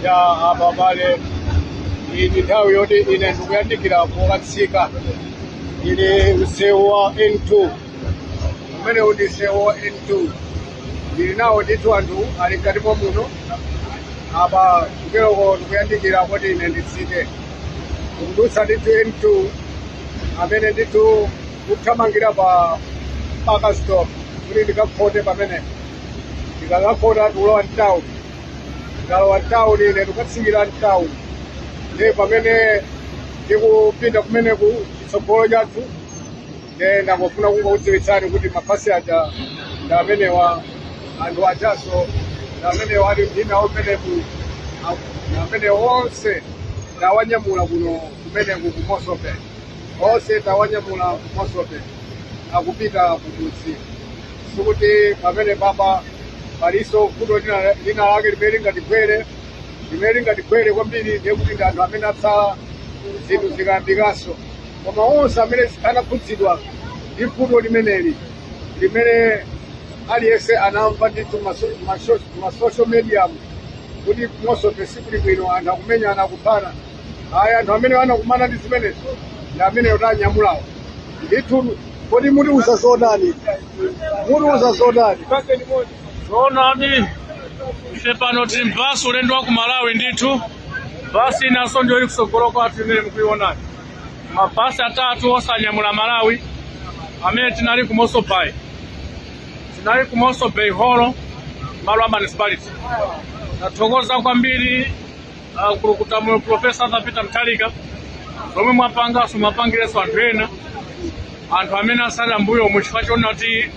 ya abale iyi ndi nthawi yoti ine ndikuyandikira pokatsika ili msewu wa n2 umene uti msewu wa n2 ndili nawo ndithu anthu ali mkati mwa muno apa kuteroko ndikuyandikira kuti ine nditsike ndikudutsa ndithu n2 amene ndithu kuthamangira pa mpaka stop kuti ndikakhote pamene ndikakakhota ndikulowa mtown ndikalowa mtown ine ndikatsikira mtown ndi pamene ndikupinda kumeneku chitsogolo chathu nde ndangofuna kungokudziwitsani kuti mabasi aja ndi amenewa anthu ajaso ndi amenewa ali ndinawo kumeneku ndi amene onse ndawanyamula kuno kumeneku ku mossel bay Onse tawanyamula ku Mossel Bay akupita kumudzi. Sikuti pamene papa palinso vuto lina lake limene lingatigwere limene lingatigwere kwambiri ndiye kuti ndi anthu amene atsala zinthu zikayambikanso koma onse amene anakhudzidwa ndi vuto limeneli limene aliyense anamva ndithu maso- maso- masocial mediamu kuti ku Mossel Bay sikuli bwino anthu akumenyana akuphana ayi anthu amene anakumana ndi zimenezo ndi amene tanyamulawo ndithu kodi mutiuza zotani mutiuza zotani zoonadi ife pano tili mbasi ulendo wa ku malawi ndithu basi inanso ndiyo ili kutsogolo kwathu imene mukuionani mabasi atatu onse anyamula amalawi amene tinali ku mossel bay tinali ku mossel bay holo malo a municipality tathokoza kwambiri akulukuta moyo profesa arthur peter mutharika zomwe mwapanganso mwapangirenso anthu ena anthu amene asala mbuyo muchifukwa chonena kuti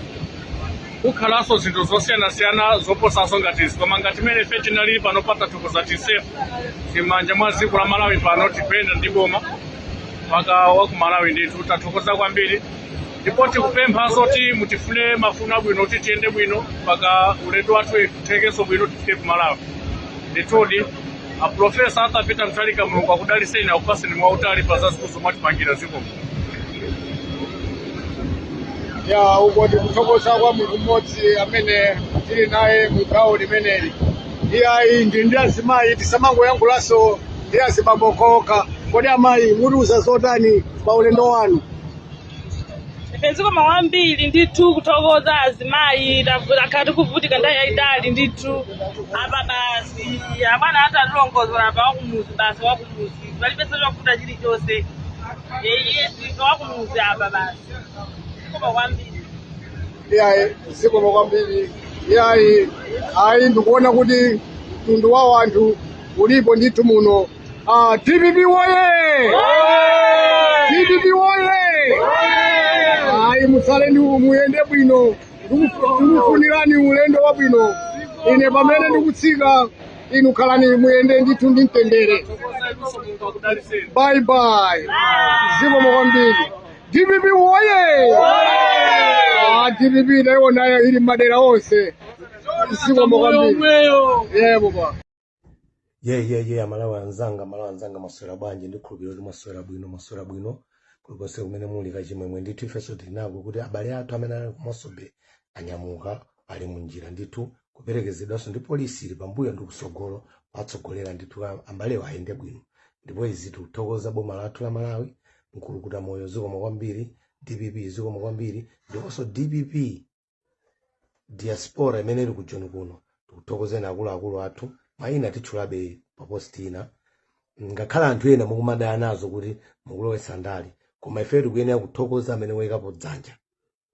kukhalanso zinthu zosiyanasiyana zoposanso ngati izi koma ngati mmene ife tinalili panopa tathokoza ti safe ti mmanja mwa dziko la malawi pano tikuyenda ndi boma mpaka wa ku malawi ndithu tathokoza kwambiri ndipo tikupemphanso kuti mutifune mafuno abwino kuti tiyende bwino mpaka ulendo wathu uthekenso bwino tifike ku malawi ndithudi aprofesa arthur peter mutharika mulungu akudaliseni akupaseni moyo wautali pa zazikulu zomwe mwatipangira zikomo ya uko ndikuthokoza kwa munthu mmodzi amene tili naye mu gawo limeneli iyayi ndi ndi azimayi tisamangoyankhulanso ndi azibambo okhaokha kodi amayi mutiuza zotani pa ulendo wanu ife zikomo kwambiri ndithu kuthokoza azimayi takhala tikuvutika nthawi yayitali ndithu apa basi abwana atalongosola apa wakumuzi basi wakumuzi palibenso chovuta chilichonse yeye ife wakumuzi apa basi zikomo kwambiri iyayi zikomo kwambiri iyayi ayi ndikuona kuti mtundu wa anthu ulipo ndithu muno Ah, DPP woye! DPP woye! Ayi musale ndi muyende bwino Ndiku- ndikufunirani ulendo wabwino ine pamene ndikutsika inu khalani muyende ndithu ndi mtendere bye bye zikomo kwambiri dpp woye Ah, dpp nayo nayo ili madera onse zikomo kwambiri yebo baba yeyeye amalawi anzanga amalawi anzanga maswera bwanji ndikhulupirira kuti maswera bwino maswera bwino kulikonse kumene muli kachimwemwe ndithu ifenso tili nako kuti abale athu amene anali kumasobe anyamuka ali munjira ndithu kuperekezedwanso ndi polisi ili pambuyo ndi kusogolo kutsogolera ndithu a- abalewo ayende bwino ndipo izi tikuthokoza boma lathu la malawi mkulukuta moyo zikomo kwambiri dpp zikomo kwambiri ndiponso dpp diaspora imene ili ku joni kuno tikuthokozeni akuluakulu athu mayina titchulabe pa post ina ngakhale anthu ena mukumadana nazo kuti mukulowetsa ndale koma ifeyo tikuyenera kuthokoza amene wayikapo dzanja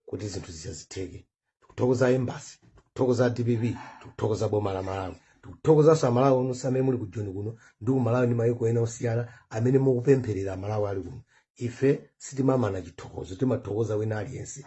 kuti zinthu zizizi zitheke tikuthokoza embassy tikuthokoza dpp tikuthokoza boma la malawi tikuthokozanso amalawi onse amene muli ku joni kuno ndi ku malawi ndi mayiko ena osiyana amene mukupempherera amalawi ali kuno ife sitimamana chithokozo timathokoza wina aliyense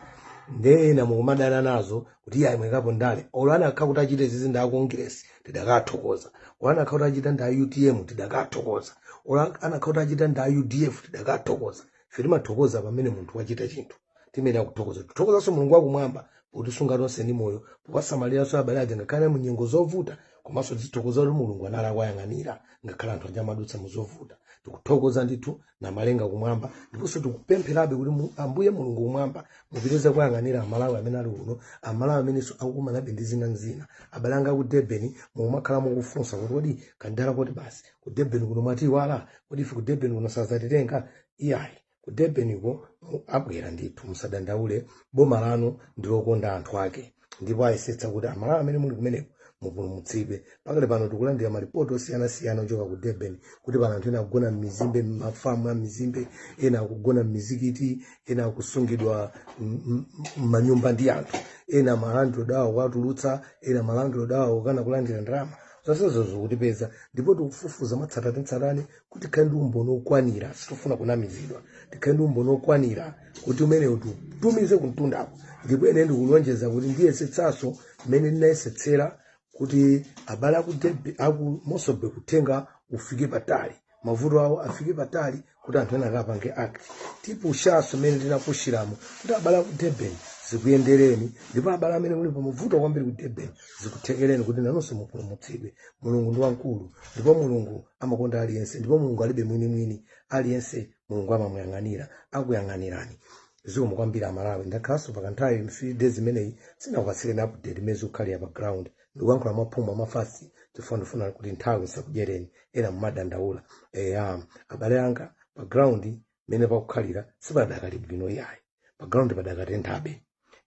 nde ena mukumadana nazo kuti iyayi mwaikapo ndale olo anakakhala kuti achita zizi ndi akongiresi tidakathokoza olo anakakhala kuti achita ndi a utm tidakathokoza olo anakakhala kuti achita ndi a udf tidakathokoza ife timathokoza pamene munthu wachita chinthu timayenera kuthokoza tithokozanso mulungu wakumwamba potisunga tonse ndi moyo powasamaliranso abale aja ngakhale mu nyengo zovuta komanso tithokoza kuti mulungu anali akuyang'anira ngakhale anthu aja amadutsa mu zovuta tikuthokoza ndithu namalenga kumwamba ndiponso tikupempherabe kuti mu- ambuye mulungu kumwamba mupitirize kuyang'anira amalawi amene ali kuno amalawi amenenso akukumanabe ndi zina ndi zina abale anga ku durban mukumakhala mukufunsa kuti kodi kandala koti basi ku durban kuno mwatiiwala kodi ife ku durban kuno sazatitenga iyayi ku durban ko mu- abwera ndithu musadandaule boma lanu ndilokonda anthu ake ndipo ayesetsa kuti amalawi amene muli kumeneko mupulumutsidwe pakali pano tikulandira malipoti osiyanasiyana ochoka ku durban kuti pano anthu ena akugona m'mizimbe m'mafamu a mizimbe ena akugona m'mizikiti ena akusungidwa m- m- m'manyumba ndi anthu ena malandlord awo kuwatulutsa ena malandlord awo kukana kulandira ndalama zonsezo zikutipeza ndipo tikufufuza mwatsatanetsatane kuti tikhale ndi umboni wokwanira sitifuna kunamizidwa tikhale ndi umboni wokwanira kuti umenewu tiutumize kumtundako ndipo ine ndikulonjeza kuti ndiyesetsanso mmene ndinayesetsera kuti abale aku Durb- aku Mossel Bay uthenga ufike patali mavuto awo afike patali kuti anthu ena akapange act tipushanso mmene tinapushiramo kuti abale aku Durban zikuyendereni ndipo abale amene muli pamavuto kwambiri ku Durban zikuthekereni kuti nanonso mupulumutsidwe mulungu ndi wamkulu ndipo mulungu amakonda aliyense ndipo mulungu alibe mwinimwini aliyense mulungu amamuyang'anira akuyang'anirani zikomo kwambiri amalawi ndakhalanso pakanthawi few days imeneyi sinakupatsireni update mmene zikukhalira pa ground ndikuyankhula mwaphuma mwa fast chifukwa ndifuna kuti nthawi isakudyereni ena mumadandaula eya abale anga pa ground mmene pakukhalira sipadakali bwino yayi pa ground padakatenthabe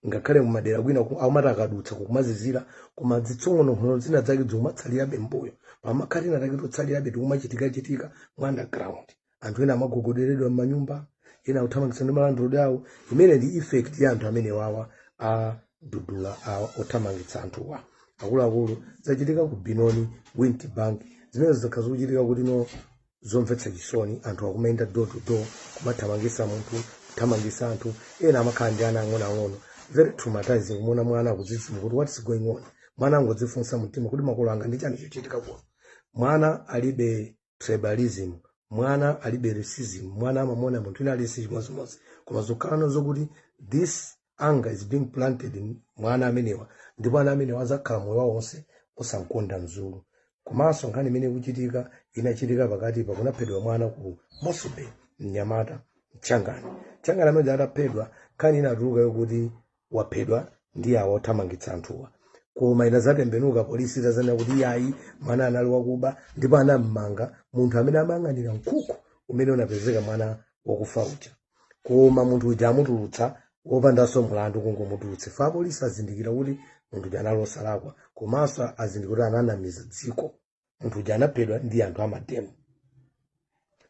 ngakhale mumadera kwina amati akadutsa kukumazizira koma zitsong'onong'ono zina zake zikumatsalirabe mbuyo pamakhala tina take totsalirabe tikumachitikachitika mu underground anthu ena amagogoderedwa m'manyumba ena akuthamangitsa ndi ma landlord awo imene ndi effect ya anthu amenewa awa a dudula awa othamangitsa anthuwa akuluakulu zachitika ku Benoni Witbank zimene zikukhala zikuchitika kuti no zomvetsa chisoni anthu akumayenda door to door kumathamangisa munthu kuthamangisa anthu ena amakhala ndi ana ang'onoang'ono very traumatizing kumona mwana akudzidzimuka kuti what is going on mwana angodzifunsa mtima kuti makolo anga ndi chani chochitika kuno mwana alibe tribalism mwana alibe racism mwana amamona munthu ina aliyense chimodzimodzi koma zokhalano zokuti this anger is being planted in- mwa ana amenewa ndipo ana amenewa azakhala moyo wawo onse osamkonda mzulu komanso nkhani imene ikuchitika inachitika pakati pa kunaphedwa mwana ku Mossel Bay mnyamata mchangani mchangani amene ataphedwa nkhani inatuluka yokuti waphedwa ndi awa othamangitsa anthuwa koma inazatembenuka polisi itazanena kuti yayi mwana anali wakuba ndipo anammanga munthu amene amayang'anira mkhukhu umene unapezeka mwana wakufa uja koma munthu uja amutulutsa wopandanso mlandu kungomutulutsa chifukwa apolisi azindikira kuti munthu uja anali osalakwa komanso azindikira kuti ananamiza dziko munthu uja anaphedwa ndi anthu amademo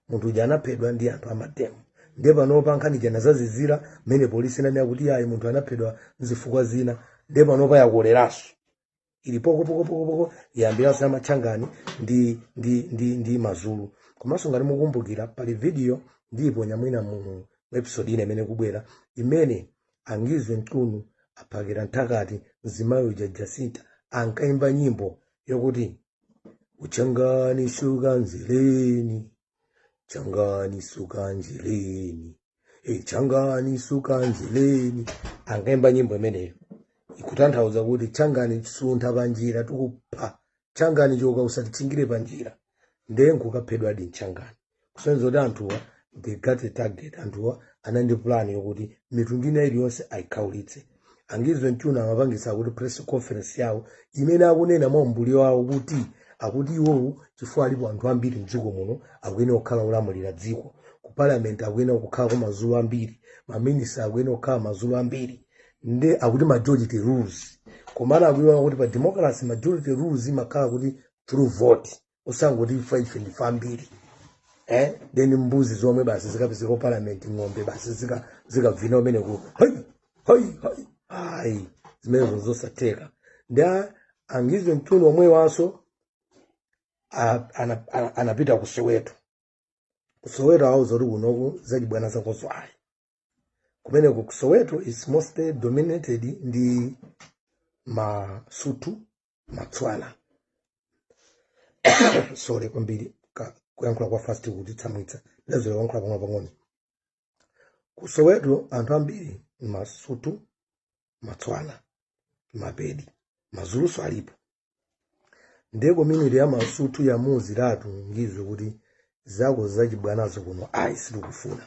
munthu uja anaphedwa ndi anthu amademo ndiye panopa nkhani ija inazazizira mmene polisi inanena kuti ayi munthu anaphedwa nzifukwa zina ndiye panopa yakoleranso ili pokopokopokopoko yayambiranso ya matchangani ndi, ndi, ndi, ndi mazulu komanso ngati mukumbukira pali video ndiyiponya mwina mu episode ina imene ikubwera imene a Ngizwe Mchunu a Phakel'umthakathi mzimayi uja Jacinta ankayimba nyimbo yokuti uchangani suka endleleni Shangani suka endleleni e Shangani suka endleleni ankaimba nyimbo imeneyo ikutanthauza kuti Shangani suntha panjira tikupha Shangani choka usatitchingire panjira ndiye nkukaphedwadi Mshangani kusonyeza kuti anthuwa they got a target anthuwa ali ndi plan yokuti mitundu ina iliyonse ayikhaulitse a Ngizwe Mchunu amapangisa kuti press conference yawo imene akunena mwa umbuli wawo kuti akuti iwowo chifukwa alipo anthu ambiri mdziko muno akuyenera kukhala olamulira dziko ku parliament akuyenera kukhala mazulu ambiri maminista akuyenera kukhala mazulu ambiri nde akuti majority rules komana akuiwala kuti pa democracy majority rules imakhala kuti through vote osangoti ife ife ndife ambiri eh then mbuzi zomwe basi zikapezeka ku parliament ng'ombe basi zika zikavina kumeneko hai hai hai ayi zimenezo zosatheka nde a- a Ngizwe Mchunu omwewanso a- ana- ana- anapita ku soweto ku soweto auza kuti kunoku zachibwana zakozo ayi kumeneko ku soweto is mostly dominated ndi masuthu matswana sorry kwambiri ka- kuyankhula kwa fast kutitsamwitsa ndazolowera kuyankhula pang'ono pang'ono ku soweto anthu ambiri masuthu matswana mapedi mazuluso alipo ndiye community ya masuthu yamuuziratu Ngizwe kuti zako zachibwanazo kuno ayi sitikufuna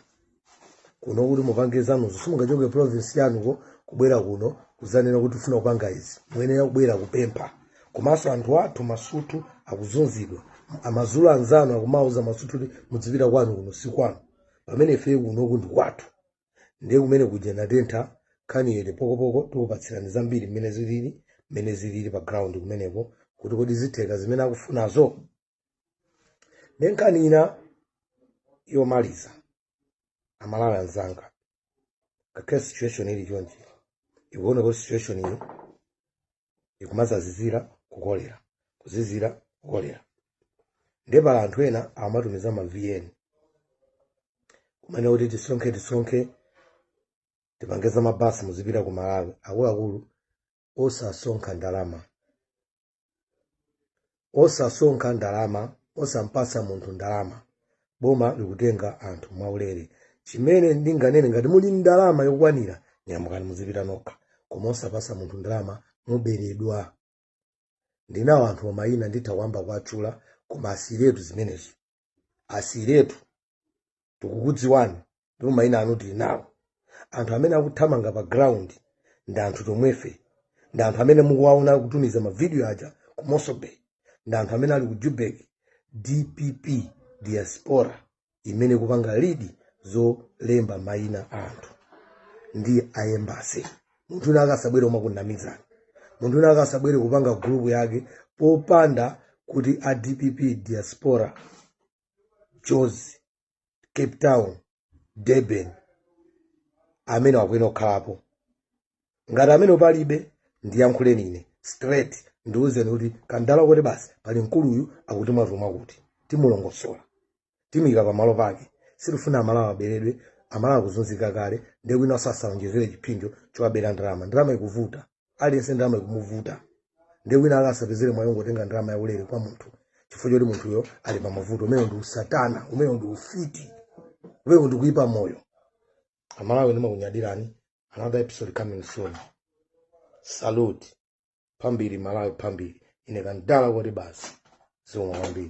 kuno kuti mupange zanuzo simungachoke province yanuko kubwera kuno kuzanena kuti ufuna kupanga izi muyenera kubwera kupempha komanso anthu athu masuthu akuzunzidwa amazulu anzanu akumawauza masuthu kuti mudzipita kwanu kuno si kwanu pamene ife kunoku ndi kwathu ndiye kumenekuja kwatentha nkhani yati pokopoko tikupatsirani zambiri mmene zilili mmene zilili pa ground kumeneko kuti kodi zitheka zimene akufunazo nde nkhani ina yomaliza amalawi anzanga ngakhale situation ili chonchi ikuoneka kuti situation iyi ikumazazizira kukolera kuzizira kukolera ndiye pali anthu ena amatumiza ma vn kumanena kuti tisonkhe tisonkhe tipange za mabasi muzipita ku malawi akuluakulu osasonkha ndalama osasonkha ndalama osampasa munthu ndalama boma likutenga anthu mwaulere chimene ndinganene ngati muli ndi ndalama yokwanira nyamukani muzipita nokha koma osapasa munthu ndalama muberedwa ndinawo anthu omayina nditha kuyamba kuwatchula koma asiyiretu zimenezo asiyiretu tikukudziwani ndipo mayina anu tili nawo anthu amene akuthamanga pa ground ndi anthu tomwefe ndi anthu amene mukuwaona kutumiza mavidiyo aja ku mosobay ndi anthu amene ali ku Joburg dpp diaspora imene kupanga lead zolemba mayina a anthu ndi a embasi munthu wina akasabwere kumakunamizani munthu wina akasabwere kupanga gulupu yake popanda kuti a dpp diaspora jozi cape town durban amene wakuena kukhalapo ngati amene palibe ndiyankhuleni ine straight mundiuze kuti kandala kuti basi pali mkuluyu akuti mwatuma kuti timulongosole timuike pamalo pake sitifuna amalawi aberedwe amalawi akuzunzika kale nde wina osasaonjezere chipsinjo chowabera ndalama ndalama ikuvuta aliyense ndalama ikumuvuta nde wina akasapezere mwayi wongotenga ndalama yaulere kwa munthu chifukwa choti munthuyo ali pa mavuto umenewo ndi usatana umenewo ndi ufiti umenewo ndi kuyipa moyo amalawi ndimakunyadirani another episode coming soon salute phambili malawi phambili ine kandala kuti basi zikomo kwambiri